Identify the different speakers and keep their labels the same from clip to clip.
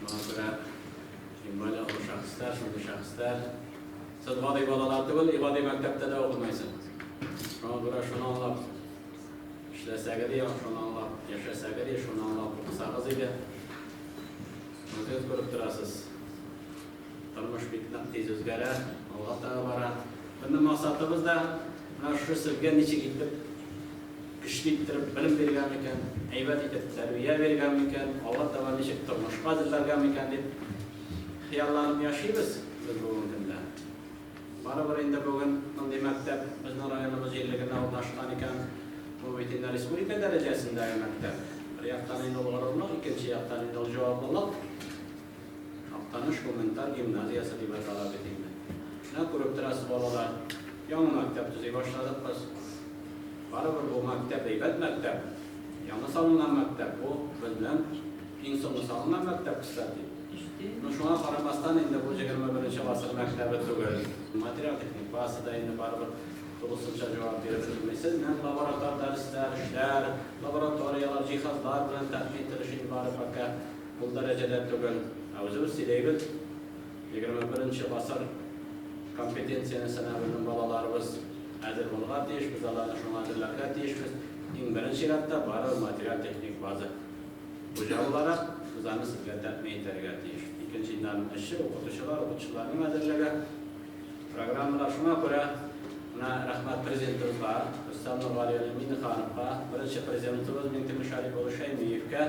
Speaker 1: Моңа күрә Җимбали авыр шәхесләр, шундый шәхесләр. Сез гади балалар түгел, гади мәктәптә дә укымайсыз. Шуңа күрә шуны аңлап эшләсәгез яхшы, шуны аңлап яшәсәгез, шуны аңлап укысагыз иде. Үзегез күреп торасыз. Тормыш бик нык тиз үзгәрә, алга таба бара. Безнең максатыбыз да менә шушы сезгә ничек итеп көчле иттереп белем биргән микән, әйбәт итеп тәрбия биргән микән, алга таба ничек тормышка әзерләргә микән дип хыялланып яшибез без бүгенге көндә. Барыбер инде бүген мондый мәктәп безнең районыбыз җирлегендә урнашкан икән, бу бит инде республика дәрәҗәсендәге мәктәп. Бер яктан инде ул горурлык, икенче яктан инде ул җаваплылык. Актаныш гуманитар гимназиясе дип атала бит инде. Менә күреп торасыз, балалар, яңа мәктәп төзи башладык без. Барыбер бу мәктәп әйбәт мәктәп. Яңа салынган мәктәп бу, безнең иң соңгы салынган мәктәп, кстати. Ну, шуңа карамастан, инде бу егерме беренче гасыр мәктәбе түгел. Материаль-техник базасы да инде барыбер тулысынча җавап биреп өлгермисез. Менә лаборатор дәресләр, эшләр, лабораторияләр, җиһазлар белән тәэмин ителеш инде бары пока. Ул дәрәҗәдә түгел, ә үзебез сөйләйбез, егерме беренче гасыр компетенцияне сынау өчен балаларыбыз әзер булырга тиеш, без аларны шуңа әзерләргә тиешбез. Иң беренче чиратта, бары материаль-техник база. Хуҗа буларак, без аны сезгә тәэмин итәргә тиеш. Икенчедән, эшче, укытучылар, укытучыларның әзерлеге, программалар. Шуңа күрә менә рәхмәт Президентыбызга, Рөстәм Нургали Миңнехановка, беренче Президентыбыз Миңтимер Шәрипович Шәймиевкә,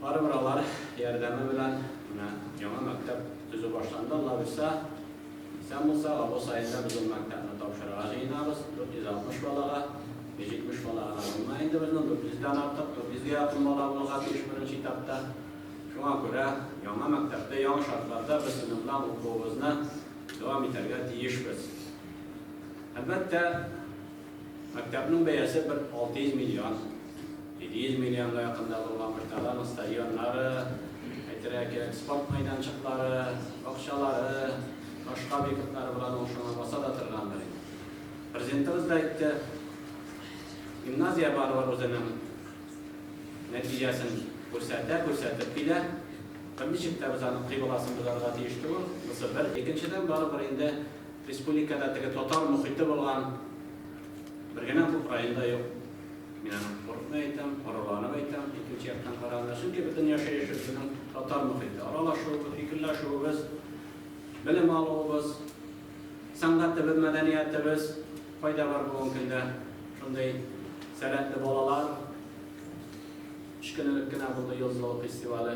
Speaker 1: Барыбер алар ярдәме белән менә яңа мәктәп төзү башланды. Алла бирсә, исән булса, август аенда без ул мәктәпне тапшырырга җыенабыз. 460 балага, 170 бала гына булмый инде безнең, 400 дән артык, 400 гә якын бала булырга тиеш беренче этапта. Шуңа күрә яңа мәктәптә, яңа шартларда без сыйныфлар укуыбызны дәвам итәргә тиешбез. Әлбәттә, Мәктәпнең бәясе бер 600 миллион, 700 миллионга якында булган Кыштагы аның стадионнары, әйтергә кирәк, спорт мәйданчыклары, бакчалары, башка объектлары белән ул шуңа баса да торгандыр инде. Президентыбыз да әйтте, гимназия барыбер үзенең нәтиҗәсен күрсәтә, күрсәтеп килә. Берничек тә без аның кыйбласын бозарга тиеш түгел. Монысы бер. Икенчедән, барыбер инде Республикада теге татар мохите булган бер генә күп район да юк. Мин аны куркмый әйтәм, горурланып әйтәм, икенче яктан караганда. Чөнки бөтен яшәеше безнең татар мохите. Аралашуыбыз, фикерләшүебез, белем алуыбыз, сәнгатебез, мәдәниятебез. Кайда бар бүгенге көндә шундый сәләтле балалар? Өч көнлек кенә булды Йолдыз авылы фестивале.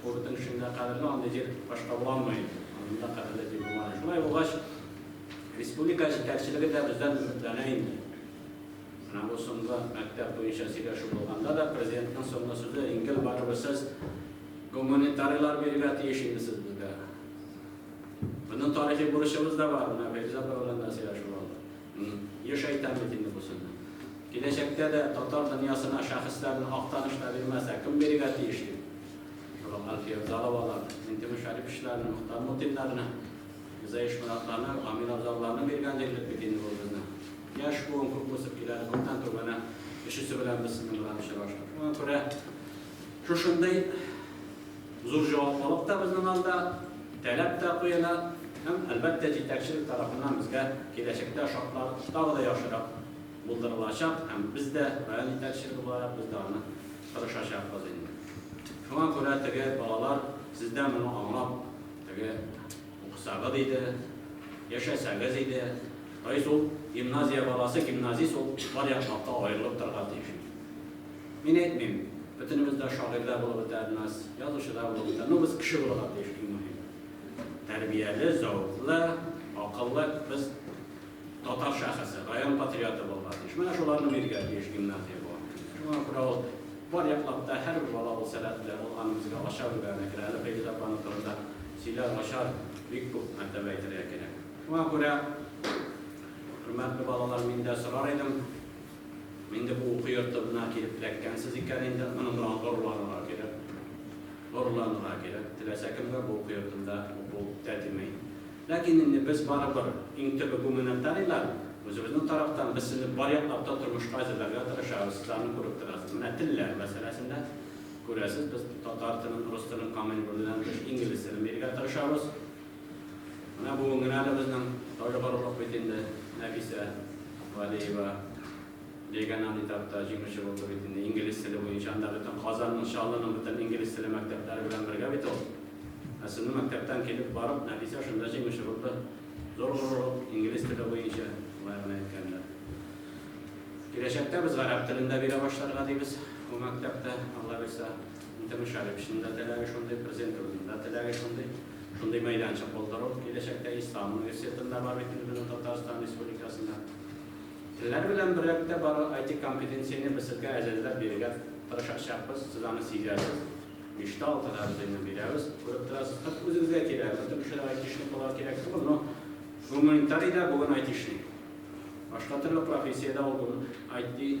Speaker 1: Курортның эчендә кадерле андый җир башка булалмый, андый да кадерле җир булмады. Шулай булгач, республика җитәкчелеге дә бездән өметләнә инде. Менә бу соңгы мәктәп буенча сөйләшү булганда да президентның соңгы сүзе ингел барыбер сез гуманитарийлар бирергә тиеш инде сез безгә. Моның тарихи бурычыбыз да бар, менә Фәйзә апа белән дә сөйләшеп алдык. Еш әйтәм бит инде бу сүзне. Киләчәктә дә татар дөньясына шәхесләрне Актаныш та бирмәс, ә кем бирергә тиеш ди? Шул ук Әлфия Абзаловаларны, Минтимер Шәриповичларны, Мохтар Мутиннарны, Мирза Ишмуратларны, Гамил Абзалларны биргән диярлек бит инде бу безнең. Яшь буын күп үсеп килә, күптән түгел менә өчесе белән без сезнең белән очраштык. Шуңа күрә шушындый Зур җаваплылык та безнең алда, таләп тә куела һәм, әлбәттә, җитәкчелек тарафыннан безгә киләчәктә шартлар тагы да яхшырак булдырылачак һәм без дә, район җитәкчелеге буларак, без дә аны тырышачакбыз инде. Шуңа күрә теге балалар, сез дә моны аңлап, теге укысагыз иде, яшәсәгез иде, то есть ул гимназия баласы, гимназист ул бар яклап та аерылып торырга тиеш иде. Мин әйтмим, бөтенебез дә шагыйрь дә булып бетәрбез, язучы да булып бетәр, но без кеше булырга тиеш, иң мөһиме. Тәрбияле, зәвыклы, акыллы без татар шәхесе, район патриоты булырга тиеш. Менә шуларны бирергә тиеш гимназия бу. Шуңа күрә ул бар яклап та һәрбер бала ул сәләтле, ул аны безгә ача бүлгән әкрен. Әле Фәйзүл апаның турында сөйләр, ачар бик күп мәртәбә әйтергә кирәк. Шуңа күрә, хөрмәтле балалар, мин дә сорар идем, Инде бу уку йортына килеп эләккәнсез икән инде, моның белән горурланырга кирәк. Горурланырга кирәк. Теләсә кемгә бу уку йортында уку тәтеми. Ләкин инде без барыбер, иң төбе гуманитарийлар, үзебезнең тарафтан без сезне бар яклап та тормышка әзерләргә тырышабыз, сез аны күреп торасыз. Менә телләр мәсьәләсендә, күрәсез, без татар телен, рус телен камил белүдән тыш, инглиз телен бирергә тырышабыз. Менә бүген генә дә безнең тауга барырлык бит инде, Нәфисә Вәлиева Беган андитатта җиңүче булды бит инде, инглиз теле буенча, анда бөтен Казанның, Чаллының бөтен инглиз теле мәктәпләре белән бергә бит ул. Ә сезнең мәктәптән килеп барып, Нәфисә шунда җиңүче булды. Зур горурлык, инглиз теле буенча, болай гына әйткәндә. Киләчәктә без гарәп телен дә бирә башларга дибез ул мәктәптә, Алла бирса. Инде Мөшәррифшин да теләге шундый, Президентыбызның да теләге шундый. Шундый мәйданчык булдыру киләчәктә Ислам университетында бар бит инде безнең Татарстан Республикасында. Телләр белән берлектә бар IT компетенцияне без сезгә әзерләп бирергә тырышачакбыз. Сез аны сизәсез. Биштә алтыда без инде бирәбез. Күреп торасыз, хәтта үзегезгә кирәк. Бөтен кешеләр айтишник буларга кирәк түгел, но гуманитарий да бүген айтишник. Башка төрле профессиядә ул бүген IT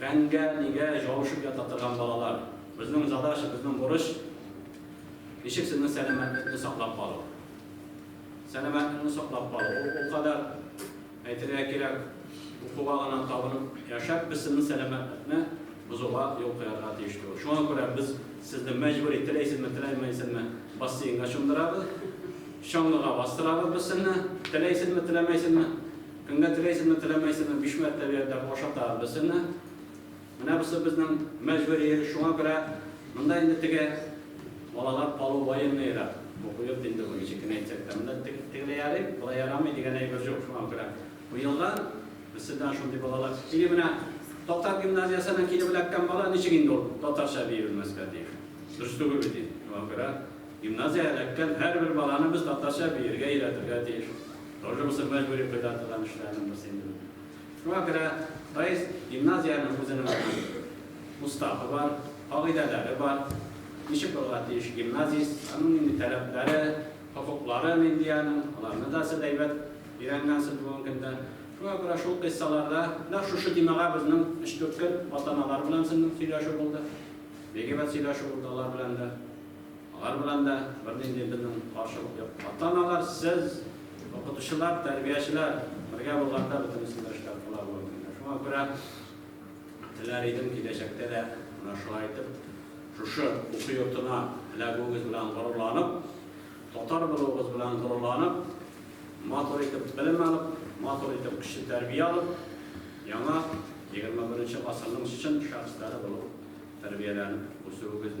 Speaker 1: Фәнгә, нигә җавышып ята торган балалар? Безнең задача, безнең бурыч, ничек сезнең сәламәтлекне саклап калу? Сәламәтлекне саклап калу, ул ул кадәр, әйтергә кирәк, укуга гына табынып яшәп, без сезнең сәламәтлекне бозуга юл куярга тиеш түгел. Шуңа күрә без сезне мәҗбүри, теләйсезме, теләмәйсезме, бассейнга чумдырабыз, чаңгыга бастырабыз без сезне, теләйсезме, теләмәйсезме. Көнгә теләйсезме, теләмәйсезме, биш мәртәбә йөртәп ашатабыз без сезне. Менә бусы безнең мәҗбүри эш, шуңа күрә монда инде теге балалар калу военныйрак. Бу бу йорт инде бу ничек кенә әйтсәк тә, монда теге тегеләй ярый, болай ярамый дигән әйбер җук, шуңа күрә бу елда без сездән шундый балалар, или менә татар гимназиясеннән килеп эләккән бала ничек инде ул татарча бии белмәскә тиеш? Дөрес түгел бит инде, шуңа күрә. Гимназия эләккән һәрбер баланы без татарча биергә өйрәтергә тиеш. Тоже бу мәҗбүри кыйда торган эшләрнең берсе инде бу. Шуңа күрә Раис гимназиянең үзенең аны уставы бар, кагыйдәләре бар. Ничек булырга тиеш гимназист, аның нинди таләпләре, хокуклары нинди аның, аларны да сез әйбәт өйрәнгәнсез бүгенге көндә. Шуңа күрә шул кыйссаларда, нәкъ шушы темага безнең өч-дүрт көн ата-аналар белән сезнең сөйләшү булды. Бик әйбәт сөйләшү булды алар белән дә. Алар белән дә бернинди безнең каршылык юк. Ата-аналар, сез, укытучылар, тәрбиячеләр бергә булганда бөтен исемле эшләр була бу өлкәдә. Шуңа күрә теләр идем, киләчәктә дә менә шулай итеп, шушы уку йортына эләгүегез белән горурланып, татар булуыгыз белән горурланып, матур итеп белем алып, матур итеп кеше тәрбия алып, яңа 21 нче гасырның чын шәхесләре булып тәрбияләнеп үсүегезне,